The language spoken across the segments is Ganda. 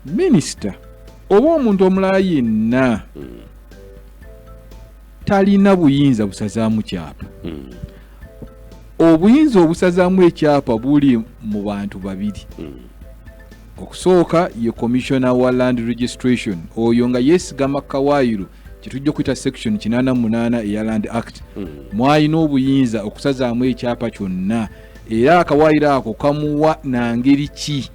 minisita oba omuntu omulala yenna hmm. talina buyinza busazaamu kyapa hmm. obuyinza obusazaamu ekyapa buli mu bantu babiri hmm. okusooka ye commissioner wa land registration oyo nga yesigama kawaayiro kyetujja okuyita section 88 eya land act hmm. mwalina obuyinza okusazaamu ekyapa kyonna era akawaayiro ako kamuwa nangeri ki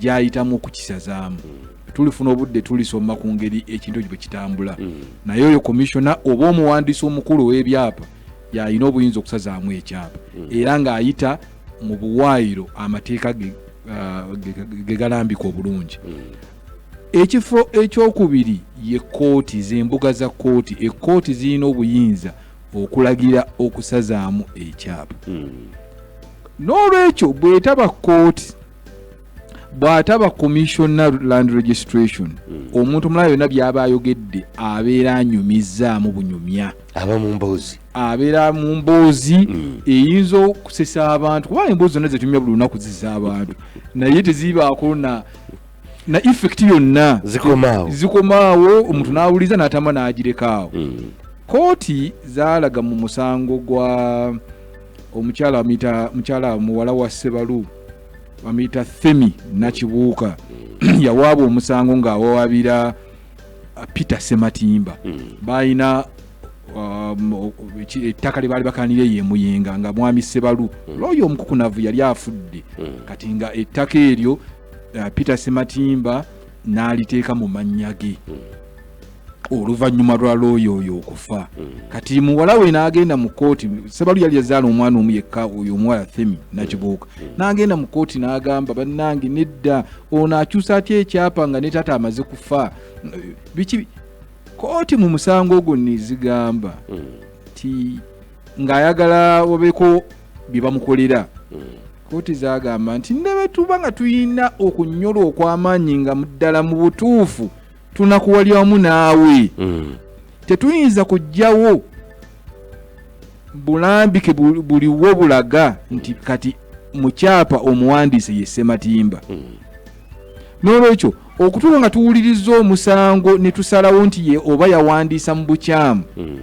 gyayitamu okukisazaamu hmm. tulifuna obudde tulisoma ku ngeri ekintu ekyo bwe kitambula hmm. naye oyo komishona oba omuwandiisi omukulu ow'ebyapa yalina obuyinza okusazaamu ekyapa hmm. era ng'ayita mu buwaayiro amateeka ge uh, galambika obulungi ekifo ekyokubiri ye kooti z'embuga za kooti ekkooti zirina obuyinza okulagira okusazaamu ekyapa n'olwekyo bwetaba kooti bw'ataba commissioner land registration hmm. omuntu omulala yonna by'aba ayogedde abeera anyumizzaamu bunyumya aba mu mboozi abeera mu mboozi hmm. eyinza okusesa abantu kuba emboozi zonna zetumya buli lunaku ziza abantu naye tezibaako na na effect yonna zikomaawo zikomaawo omuntu hmm. n'awuliza n'atama n'agirekaawo kooti zaalaga mu musango gwa omukyala amuyita mukyala muwala wa ssebalu bamuyita themi nakibuuka hmm. yawaabwa omusango ng'awawabira uh, peter sematimba hmm. balina um, ettaka lye baali bakanira eyo emuyenga nga mwami sebalu hmm. looyo omukukunavu yali afudde kati nga ettaka eryo uh, peter sematimba n'aliteeka mu mannya ge oluvannyuma lwa looya oyo okufa hmm. kati muwala we n'agenda mu kkooti sebalu yali yazaala omwana omu yekka oyo omuwala themi nakibuuka hmm. hmm. n'agenda mu kkooti n'agamba bannange nedda ono akyusa atya ekyapa nga ne taata amaze kufa biki kkooti mu musango ogwo nezigamba nti ng'ayagala wabeeko bye bamukolera kkooti zagamba nti ne bwe tuba nga tulina okunyolwa okw'amaanyi nga muddala mu butuufu tunakuwalira wamu naawe mm. tetuyinza kujjawo bulambike buliwo bulaga nti kati mukyapa omuwandiise ye ssematimba mm. n'olwekyo okutuuka nga tuwuliriza omusango ne tusalawo nti ye oba yawandiisa mu bukyamu mm.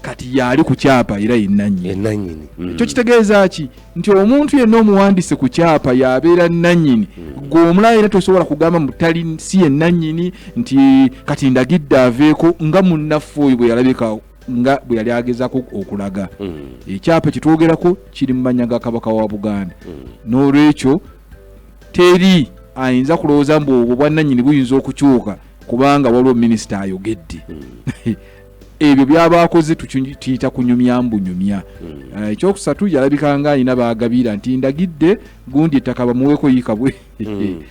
kati yaali ku kyapa era yenanyini mm. ekyo kitegeeza ki nti omuntu yenna omuwandise ku kyapa yabeera nanyini mm. gwe omulala era tosobola kugamba mutali si yenanyini nti kati ndagidde aveeko nga munnaffe oyo bwe yalabika nga bwe yali agezako okulaga mm. ekyapa kyetwogerako kiri mu manya ga kabaka wa buganda n'olwekyo teri ayinza kulowooza mbu obwo bwannanyini buyinza okukyuka kubanga waliwo minisita ayogedde ebyo byaba akoze tukiyita kunyumya mbunyumya hmm. eh, ekyokusatu yalabika nga alina bagabira nti ndagidde gundi ettaka bamuweeko yikabwe hmm.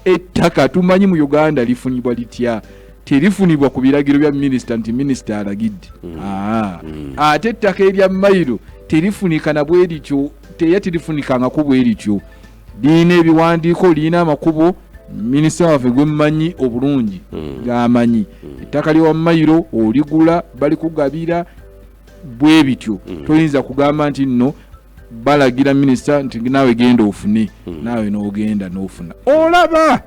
ettaka tumanyi mu uganda lifunibwa litya terifunibwa ku biragiro bya minisita nti minisita alagidde hmm. Ah. ate ettaka erya mayiro terifunika nabwerityo teya terifunikangako bwerityo lirina ebiwandiiko lirina amakubo minisita waffe gwemumanyi obulungi hmm. gamanyi hmm. ettaka lyewamayiro oligula balikugabira bwe bityo hmm. toyinza kugamba nti nno balagira minisita nti naawe genda ofune naawe n'ogenda n'ofuna olaba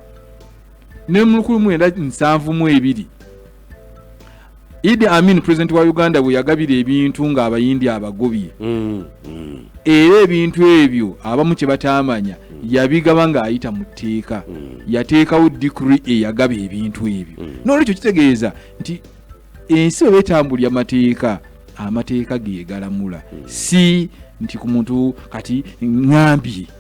ne mulukulu mwenda nsanvu mu ebiri Idi Amin president wa Uganda bwe yagabira ebintu nga abayindi abagobye mm, mm. era ebintu ebyo abamu kye bataamanya mm. yabigaba ng'ayita mu tteeka mm. yateekawo dikri eyagaba ebintu ebyo mm. n'olwekyo kitegeeza nti ensi bwe betambulya amateeka amateeka gegalamula mm. si nti ku muntu kati ngambye